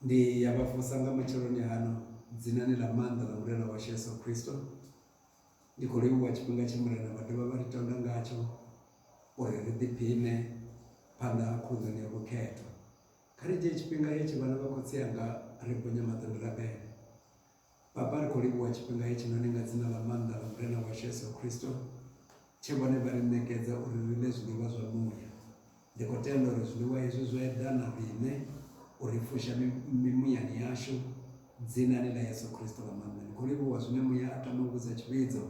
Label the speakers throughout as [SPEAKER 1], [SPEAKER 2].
[SPEAKER 1] Ndi ya vha vusa nga matsheloni ano dzinani ḽa maanḓa ḽa Murena washu Yesu Kristo. Ndi khou livhuwa tshifhinga tshe Murena vha dovha vha ri tonda ngatsho uri ri ḓiphiṋe phanḓa ha khunḓoni ya vhukhethwa. Kha ri dzhie tshifhinga hetshi vhana vha khotsi anga ri ponye maṱo ndi rabele. Baba, ri khou livhuwa tshifhinga hetshinoni nga dzina ḽa maanḓa ḽa Murena washu Yesu Kristo, tshe vhone vha ri ṋekedza uri ri ḽe zwiḽiwa zwa muya. Ndi khou tenda uri zwiḽiwa hezwi zwo eḓana riṋe u ri fusha mimuyani yashu, dzinani ḽa Yesu Kristo ḽa maanḓa. Ndi khou livhuwa zwine muya a tama u vhudza tshivhidzo,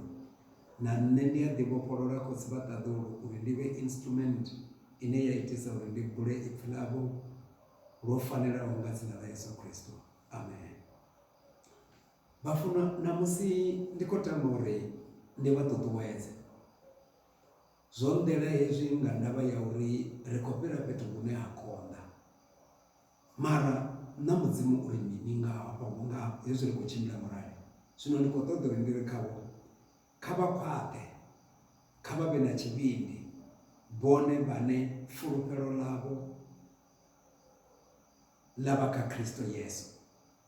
[SPEAKER 1] na nṋe ndi a ḓivhofholola khotsi vha ṱaḓulu uri ndi vhe instrument ine ya itisa uri ndi bule ipfi ḽavho lwo fanelaho nga dzina ḽa Yesu Kristo. Amen. Vha funa ṋamusi ndi khou tama uri ndi vha ṱuṱuwedze zwo nḓela hezwi nga ndavha ya uri ri khou fhira fhethu hune ha konḓa mara na mudzimu uri mini nga hafha vhunga hezwi ri khou tshimbila murahu zwino ndi khou ṱoḓa uri ndi ri khavho kha vha khwaṱhe kha vha vhe na tshivhindi vhone vhane fulufhelo ḽavho ḽa vha kha Kristo Yesu,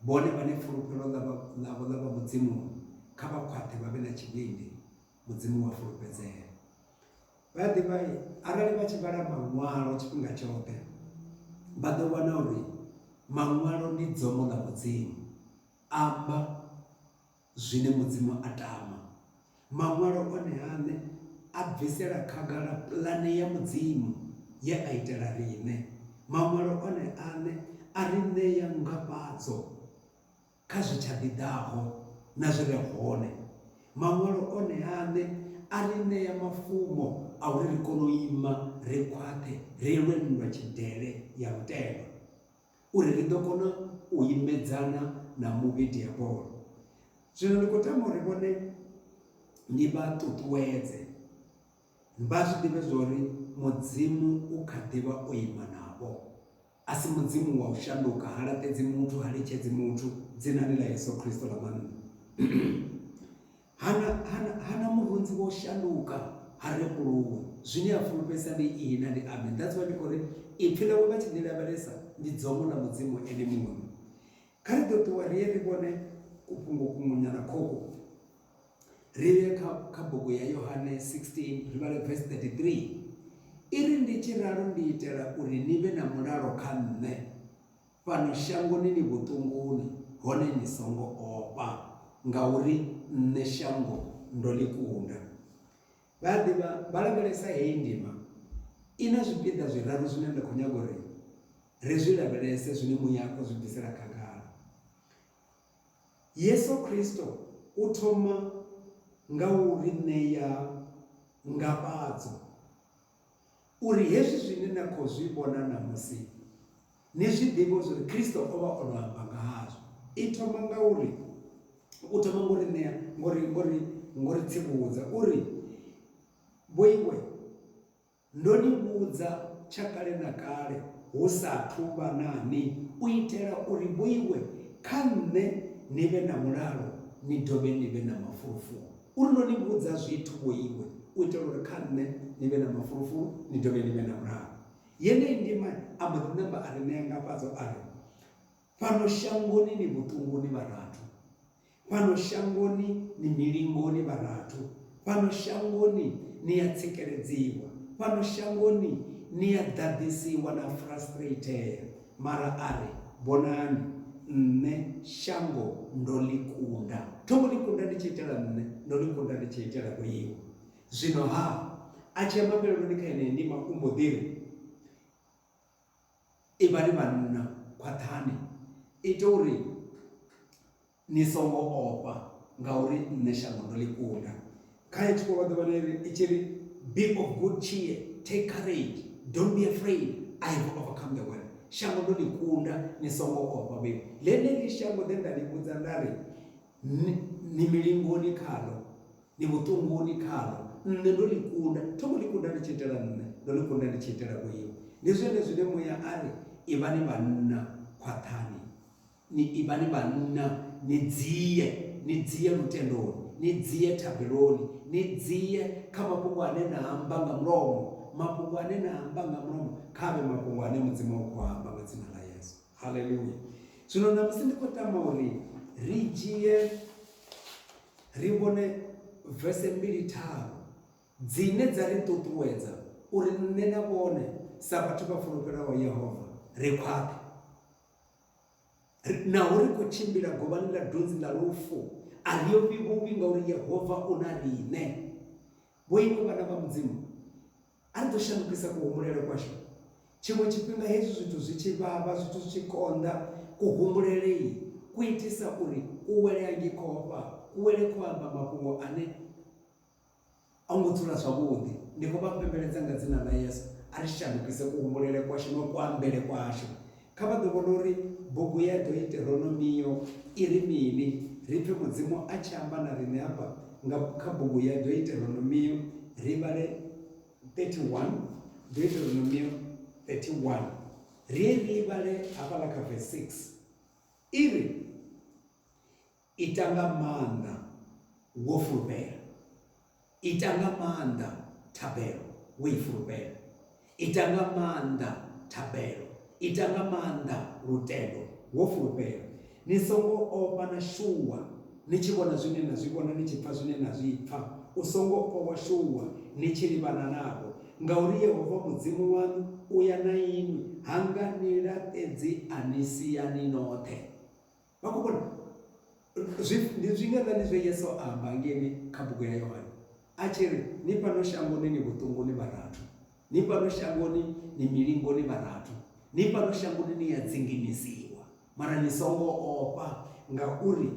[SPEAKER 1] vhone vhane fulufhelo ḽavho ḽa vha Mudzimuni, kha vha khwaṱhe vha vhe na tshivhindi, Mudzimu wa fulufhedzea. Vha a ḓivha arali vha tshi vhala Maṅwalo tshifhinga tshoṱhe, vha ḓo wana uri Maṅwalo ndi dzomo ḽa Mudzimu, amba. zwine Mudzimu a tama. Maṅwalo one-aṋe a bvisela khagala pulane ya Mudzimu ye a itela riṋe. Maṅwalo one-aṋe a ri ṋea ngafhadzo kha zwi tsha ḓi ḓaho na zwi re hone. Maṅwalo one-aṋe a ri ṋea mafumo a uri ri kone u ima ri khwaṱhe ri lwe nndwa tshidele ya lutendo. uri ri ḓo kona u imedzana na muvhi diabolo zwino ndi khou tama uri vhone ndi vha ṱuṱuwedze vha zwi ḓivhe zwa uri mudzimu u kha ḓivha o ima navho a si mudzimu wa u shanduka ha laṱedzi muthu ha litshedzi muthu dzinani ḽa yesu khristo ḽa mannḓa Ha na, ha na, ha na murunzi wo shanduka, ha rembuluwi. Zwine a fulufhedzisa ndi Ihi na ndi Amen. That's why ndi khou ri, Ipfi Ḽawe vha tshi Ḽi lavhelesa, ndi dzomo ḽa Mudzimu Ene Muṋe. Kha ri ḓo ṱuwa ri ye ri vhone kufhungo kuṅwenyana khokhu. Ri ye kha, kha bugu ya Yohane 16, ri vhale verse 33. I ri, Ndi tshi ralo ndi itela uri ni vhe na mulalo kha Nṋe. Fhano shangoni ni vhuṱunguni, hone ni songo ofha, ngauri nṋe shango ndo ḽi kunda. Vha a ḓivha, vha lavhelesa heyi ndima. I na zwipiḓa zwiraru zwine nda khou nyaga uri ri zwi lavhelese zwine muya u zwi bvisela khagala. Yesu Kristo u thoma nga u ri ṋea ngafhadzo. uri hezwi zwine na khou zwi vhona ṋamusi ni zwi ḓivhe zwa uri Kristo o vha o no amba nga hazwo. I thoma nga uri u thoma ngo ri ṋea ngo ri ngo ri ngo ri tsivhudza u ri vho iwe ndo ni vhudza tsha kale na kale hu sa thu vha na ni u itela uri vho iwe kha nṋe ni vhe na mulalo ni dovhe ni vhe na mafulufulu. U ri, Ndo ni vhudza zwithu, vho iwe, u itela uri kha nṋe ni vhe na mafulufulu, ni dovhe ni vhe na mulalo. Yeneyi ndima a mbo ḓi namba a ri ṋea ngafhadzo a ri, Fhano shangoni ni vhuṱunguni vharathu, fhano shangoni ni milingoni vharathu, fhano shangoni ni a tsikeledziwa, fhano shangoni ni a ḓaḓisiwa na frustratea, Mara a ri, Vhonani, nṋe shango ndo ḽi kunda. Tho ngo ḽi kunda ndi tshi itela nṋe, ndo ḽi kunda ndi tshi itela vho iwe. Zwino-ha, a tshi ya mafheleloni kha yeneyi ndima, u mbo ḓi ri, Ivhani vhanna khwaṱhani, ite uri. Ni songo ofha, ngauri nṋe shango ndo ḽi kunda. Khae thikho vha ḓuvha ḽe i tshi ri, Be of good cheer, take courage, don't be afraid, I have overcome the world. Shango ndo ḽi kunda, ni songo ofha. Vhe ḽeneḽi shango ḽe nda ḽi vhudza nda ri, Ni milingoni khaḽo, ni vhuṱunguni khaḽo, nṋe ndo ḽi kunda. Tho ngo ḽi kunda ndi tshi itela nṋe, ndo ḽi kunda ndi tshi itela vhoiwe. Ndi zwone zwine Muya a ri, Ivhani vhanna, khwaṱhani. Ni ivhani vhanna, ni dzie, ni dzie lutendoni, ni dzie thabeloni, ni dzie kha mafhungo ane na a amba nga mulomo. Mafhungo ane na a amba nga mulomo, kha a vhe mafhungo ane Mudzimu a khou a amba nga dzina ḽa Yesu. Haleluya! Zwino ṋamusi ndi khou tama uri ri dzhie ri vhone vese mbili tharu dzine dza ri ṱuṱuwedza uri nṋe na vhone sa vhathu vha fulufhelaho Yehova ri khwaṱhe. Naho ri khou tshimbila govhani ḽa dunzi ḽa lufu, a ri ofhi vhuvhi ngauri Yehova u na riṋe. Vhoiwe vhana vha Mudzimu, a ri ḓo shandukisa kuhumbulele kwashu. Tshiṅwe tshifhinga hezwi zwithu zwi tshi vhavha, zwithu zwi tshi konḓa, kuhumbulele-i ku itisa uri u wele angikho ofha, ku wele kho amba mafhungo ane A hu ngo dzula zwavhuḓi. Ndi khou vha pembeledza nga dzina ḽa Yesu, a ri shandukise kuhumbulele kwashu na kuambele kwashu. Kha vha ḓo vhona uri bugu ya Doiteronomio i ri mini. Ri pfe Mudzimu a tshi amba na riṋe afha nga kha bugu ya Doiteronomio, ri vhale 31, Doiteronomio 31. Ri ye ri i vhale hafhaḽa kha vese 6. I ri, Ita nga maanḓa wo fulufhela. Ita nga maanḓa thabelo wo i fulufhela. Ita nga maanḓa thabelo. Ita nga maanḓa lutendo wo fulufhela. Ni songo ofha na shuwa ni tshi vhona zwine na zwi vhona, ni tshi pfa zwine na zwi pfa. U songo ofha wa shuwa ni tshi livhana navho, ngauri Yehova Mudzimu waṋu u ya na inwi, ha nga ni laṱedzi a ni sia ni noṱhe. Vha khou vhona? Zwi, ndi zwiṅwe nga ndi zwe Yesu a amba ngeni kha bugu ya Yohane, a tshi ri, Ni fhano shangoni ni vhuṱungu, ni vharathu. Ni fhano shangoni ni milingo, ni vharathu. Ni fhano shangoni ni a dzinginisiwa, mara ni songo ofha, ngauri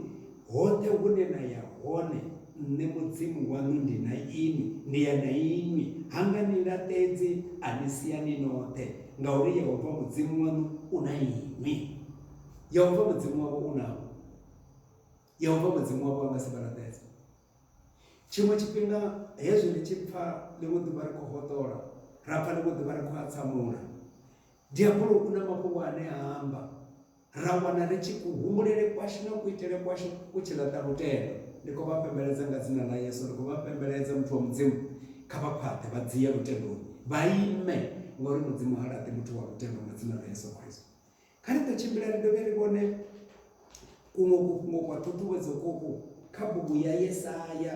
[SPEAKER 1] hoṱhe hune na ya hone, Nṋe Mudzimu waṋu ndi na inwi, ndi ya na inwi. Ha nga ni laṱedzi, a ni sia ni noṱhe, ngauri Yehova Mudzimu waṋu u na inwi. Yehova Mudzimu wavho u navho. Yehova Mudzimu wavho a nga si vha laṱedze. Tshiṅwe tshifhinga hezwi ri tshi pfa ḽiṅwe ḓuvha ri khou hoṱola ra pfa ḽiṅwe ḓuvha ri khou atsamula diabolo u na mafhungo ane a amba ra wana ri tshi kuhumbulele kwashu na kuitele kwashu ku tshi laṱa lutendo ndi khou vha pembeledza nga dzina ḽa yesu ndi khou vha pembeledza muthu wa mudzimu kha vha khwaṱhe vha dzia lutendoni vha ime ngauri mudzimu ha laṱi muthu wa lutendo nga dzina ḽa yesu khristo Kha ri ḓo tshimbila ri dovhe ri vhone kuṅwe kufhungo kwa ṱhuṱhuwedzo kuku kha bugu ya Yesaya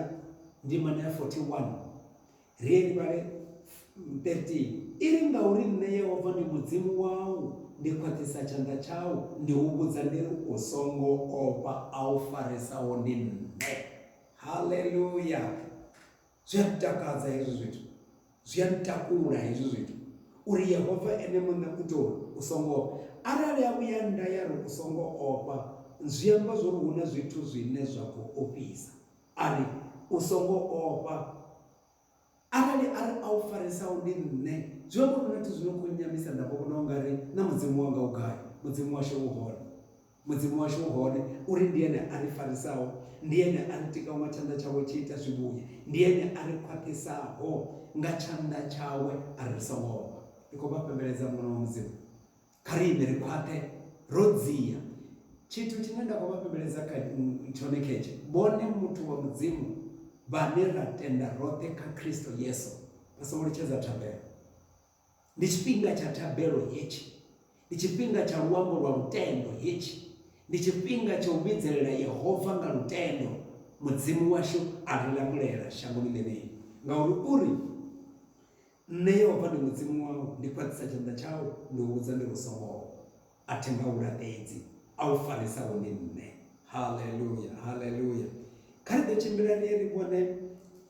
[SPEAKER 1] ndimana ya 41 ri ye ri vhale 13 i ri ngauri nṋe yehova ndi mudzimu wau ndi khwaṱhisa tshanḓa tshau ndi u vhudza ndi ri u songo ofha a u faresaho ndi nṋe haleluya Zwi a ntakadza hezwi zwithu, zwi a ntakula hezwi zwithu uri Yehova ene muṋe u tou u songo ofha. Arali a vhuya nda ya ri u songo ofha, zwi amba zwo ri hu na zwithu zwine zwa khou ofhisa. A ri u songo ofha, arali a ri a u faresaho ndi nṋe, zwi amba uri hu na zwithu zwi no khou nnyamisa nda vho vhona u nga ri na Mudzimu wanga u gai, Mudzimu washu u hone. Mudzimu washu u hone, uri ndi Ene a ri farisaho, ndi Ene a ri tikaho nga tshanḓa tshawe tshi ita zwivhuya, ndi Ene a ri khwaṱhisaho nga tshanḓa tshawe a ri songo ofha. Ndi khou vha fhembeledza Mwana wa Mudzimu. Kha ri ime ri khwaṱhe ro dzia. Tshithu tshine nda khou vha fhembeledza kha tshone khetshe, vhone muthu wa Mudzimu vhane ra tenda roṱhe kha Kristo Yesu, vha songo litshedza thabelo. Ndi tshifhinga tsha thabelo hetshi. Ndi tshifhinga tsha luambo lwa lutendo hetshi. Ndi tshifhinga tsha u vhidzelela Yehova nga lutendo. Mudzimu washu a ri langulela shangoni ḽeneḽi, ngauri u ri, Nṋe Yehova ndi Mudzimu wau, ndi fhaṱisa tshanḓa tshau, ndi u vhudza ndi lu songoho. A thi nga u laṱedzi, a u farisaho ndi Nṋe. Haleluya! Haleluya! Kha ri ḓo tshimbila ri ye ri vhone.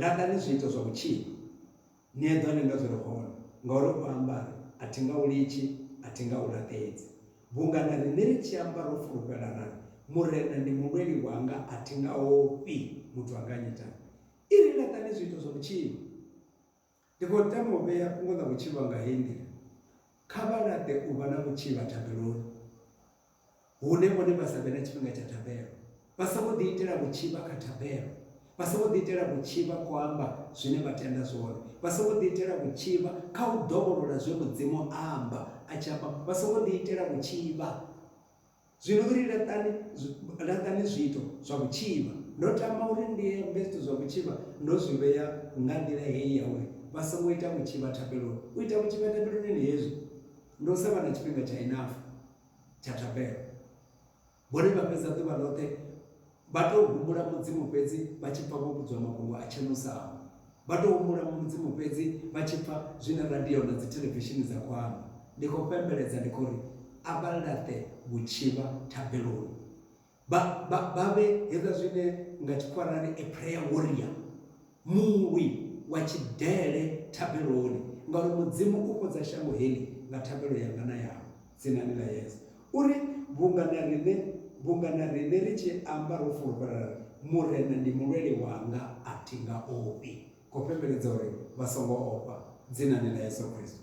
[SPEAKER 1] Laṱani zwiito zwa u tshipa, ni eḓane na zwi re hone, ngauri u amba a ri, A thi nga u litshi, a thi nga u laṱedzi. Vhunga na riṋe ri tshi amba ro fulufhela ra ri, Murena ndi mulweli wanga, a thi nga ofhi, muthu a nga nnyitani? I ri, Laṱani zwiito zwa u tshipa. Ndi khou tama u vhea fhungo ḽa vhutshilo hanga heyi nḓila, Kha vha laṱe u vha na vhutshivha thabeloni, hune vhone vha sa vhe na tshifhinga tsha thabelo. Vha songo ḓiitela vhutshivha kha thabelo. Vha songo ḓiitela vhutshivha khou amba zwine vha tenda zwone. Vha songo ḓiitela vhutshivha kha u dovholola zwe Mudzimu a amba a tshi amba. Vha songo ḓiitela vhutshivha. Zwino ri laṱani, laṱani zwiito zwa vhutshivha. Ndo tama uri ndi ambe zwithu zwa vhutshivha ndo zwi vhea nga nḓila heyi ya uri vha songo ita vhutshivha thapeloni. U ita vhutshivha thapeloni ndi hezwi, ndi u sa vha na tshifhinga tsha enough tsha thapelo. Vhone vha fhedza ḓuvha ḽoṱhe Vha tou humbula Mudzimu fhedzi vha tshi pfa vho vhudzwa mafhungo a Tshenusamo. Vha tou humbula Mudzimu fhedzi vha tshi pfa zwine radio na dzithelevishini dza khou amba. Ndi khou fhembeledza ndi khou ri, A vha laṱe vhutshivha thabeloni. Vha, vha, vha vhe hezwa zwine nga Tshikhuwa ra ri a prayer warrior. Mulwi wa tshidele thabeloni, ngauri Mudzimu u fhodza shango heḽi nga thabelo yanga na yau, dzinani ḽa Yesu. U ri, Vhunga na riṋe, vhunga na riṋe ri tshi amba ro fulufhela ra ri, Murena ndi mulweli wanga, a thi nga ofhi, khou fhembeledza uri vha songo ofha, dzinani ḽa Yesu Kristo.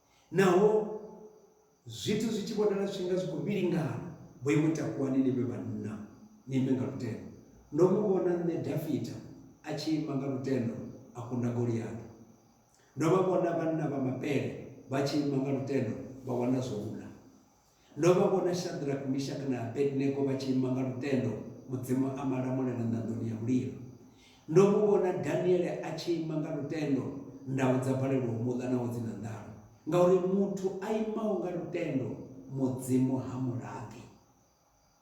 [SPEAKER 1] Naho zwithu zwi tshi vhonala zwi tshi nga zwi khou vhilingana, vho iwe takuwani ni vhe vhanna, ni imbe nga lutendo. Ndo mu vhona nṋe Dafita a tshi ima nga lutendo a kunda Goliata. Ndo vha vhona vhanna vha mapele vha tshi ima nga lutendo vha wana zwo u ḽa. Ndo vha vhona Shadrack, Mishak na Abednego vha tshi ima nga lutendo, Mudzimu a malamulela ṋanḓoni ya mulilo. Ndo mu vhona Daniele a tshi ima nga lutendo, ndau dza balelwa u mu ḽa naho dzi na nḓala. Ngauri muthu a imaho nga lutendo, Mudzimu ha mu laṱi.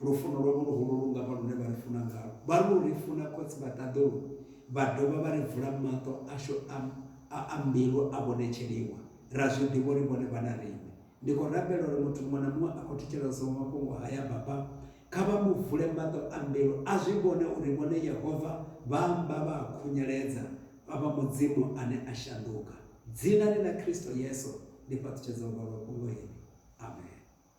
[SPEAKER 1] Lufuno lwavho luhulu lu nga vha lune vha ri funa ngalwo. Vha lu ri funa Khotsi vha ṱaḓulu, vha dovha vha ri vula maṱo ashu a a mbilu a vhonetsheliwa. Ra zwi ḓivha uri vhone vha na riṋe. Ndi khou rabela uri muthu muṅwe na muṅwe a khou thetshelesa mafhungo haya, Baba, kha vha mu vule maṱo a mbilu a zwi vhone uri vhone Yehova vha amba, vha a khunyeledza, vha vha Mudzimu ane a shanduka. Dzinani ḽa Kristo Yesu ndi fhaṱutshedza u vhalwa fhungo heḽi. Amen.